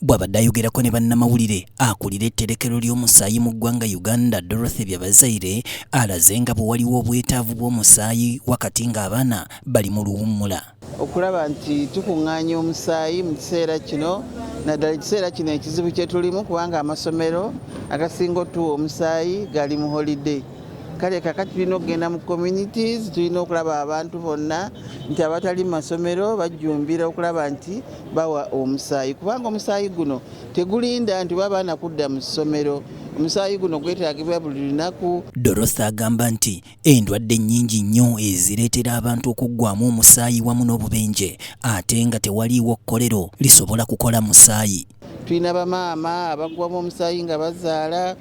Bwabadde ayogerako ne bannamawulire, akulira etterekero ly'omusaayi mu ggwanga Uganda Dorothy Byabazaire alaze nga bwewaliwo obwetaavu bw'omusaayi wakati nga abaana bali mu luwummula. Okulaba nti tukungaanya omusaayi mu kiseera kino naddala ekiseera kino ekizibu kyetulimu kubanga amasomero agasinga otuwa omusaayi gali mu holiday kale kakati tulina okugenda mu communities tulina okulaba abantu bonna nti abatali mu masomero bajjumbira okulaba nti bawa omusaayi kubanga omusaayi guno tegulinda nti oba baana kudda mu ssomero omusaayi guno gwetaagibwa buli lunaku dorothy agamba nti endwadde nnyingi nnyo ezireetera abantu okuggwamu omusaayi wamu n'obubenje ate nga tewaliiwo kkolero lisobola kukola musaayi tulina bamaama abaggwamu omusaayi nga bazaala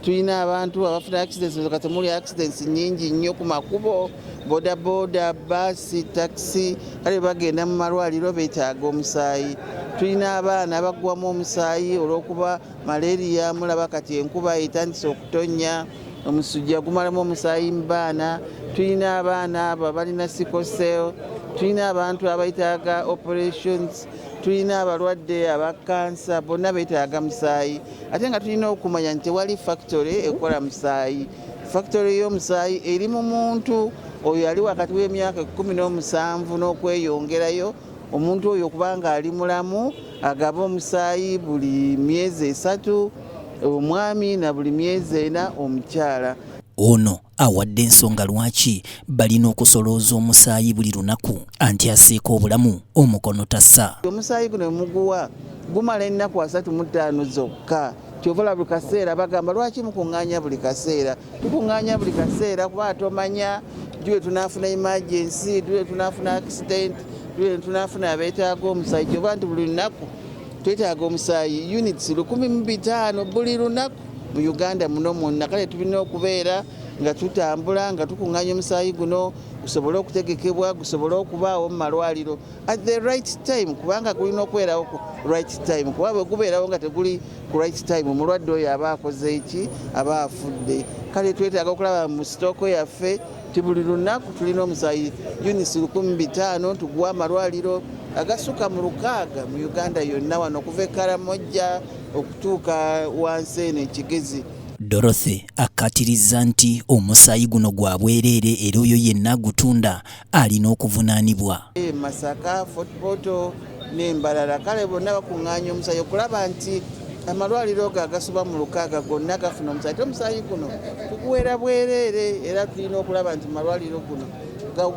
tulina abantu abafuna accidents nga temuli accidents nyingi nnyo ku makubo bodaboda baasi takisi kale bagenda mu malwaliro betaaga omusaayi tulina abaana abagwamu omusaayi olwokuba malaria mulaba kati enkuba etandise okutonnya omusujja gumalamu omusaayi mu baana tulina abaana abo abalina sicosel tulina abantu abaitaaga operations tulina abalwadde aba kansa bonna betaaga musaayi ate nga tulina okumanya nti tewali factory ekola musaayi factory y'omusaayi eri mu muntu oyo ali wakati w'emyaka ekumi n'omusanvu n'okweyongerayo omuntu oyo kubanga ali mulamu agaba omusaayi buli myezi esatu omwami na buli myezi ena omukyala ono awadde ensonga lwaki balina okusolooza omusaayi buli lunaku anti aseeka obulamu omukono tasa omusaayi guno muguwa gumala ennaku asatu mu ttaano zokka kyovola buli kaseera bagamba lwaki mukuŋŋaanya buli kaseera tukuŋŋaanya buli kaseera kuba tomanya ddi lwe tunaafuna emergency ddi lwe tunaafuna accident ddi lwe tunaafuna abeetaaga omusaayi kyoba nti buli lunaku twetaaga omusaayi units lukumi mu bitaano buli lunaku mu uganda muno mwonna kale tulina okubeera nga tutambula nga tukuŋŋanya omusaayi guno gusobole okutegekebwa gusobole okubaawo mu malwaliro at the right time kubanga gulina okubeerawo ku right time kuba bwe gubeerawo nga teguli ku right time omulwadde oyo aba akoze eki aba afudde kale twetaaga okulaba mu sitooko yaffe nti buli lunaku tulina omusayi units lukumi bitaano tuguwa amalwaliro agasuka mu lukaaga mu uganda yonna wano okuva ekaramojja okutuuka wansi eno ekigezi Dorothy akkatirizza nti omusaayi guno gwa bwereere era oyo yenna agutunda alina okuvunaanibwa. E Masaka, Fort Portal, n'embalala kale bonna bakuŋŋaanya omusaayi okulaba nti amalwaliro go agasoba mu lukaaga gonna gafuna omusaayi te omusaayi guno tuguweera bwereere era tulina okulaba nti malwaliro guno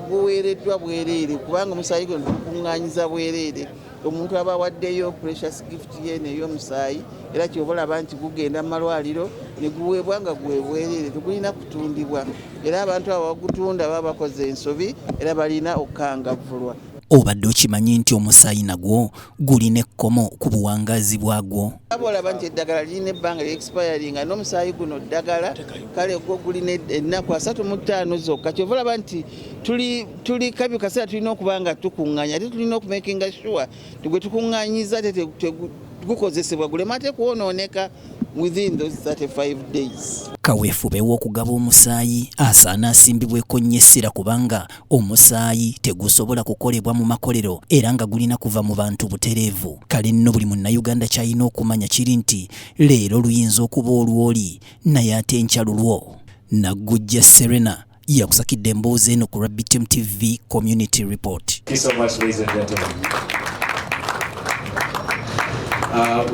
guweereddwa bwereere kubanga omusaayi guno tugukuŋŋaanyiza bwereere omuntu aba awaddeyo precious gift ye neyomusaayi era kyoba olaba nti gugenda mu malwaliro ne guweebwa nga gwebwereere tegulina kutundibwa era abantu abo bagutunda baba bakoze ensobi era balina okukangavvulwa Obadde okimanyi nti omusaayi nagwo gulina ekkomo ku buwangaazi bwagwo? Aba olaba nti eddagala lirina ebbanga lya expiringa n'omusaayi guno ddagala kale gwo gulina ennaku asatu mu ttaano zokka kyova olaba nti tuli kabi kaseera tulina okuba nga tukuŋŋanya ate tulina okumakinga sure gwe tukuŋŋanyiza ate gukozesebwa gulema ate kwonooneka within those 35 days. Kaweefube w'okugaba omusaayi asaana asimbibweko nnyo essira kubanga Omusaayi tegusobola kukolebwa mu makolero era nga gulina kuva mu bantu butereevu. Kale nno buli Munnayuganda ky'alina okumanya kiri nti leero luyinza okuba olw'oli naye ate enkya lulwo. Naggujja Serena yakusakidde emboozi eno ku Rabbi Team TV Community Report. Uh,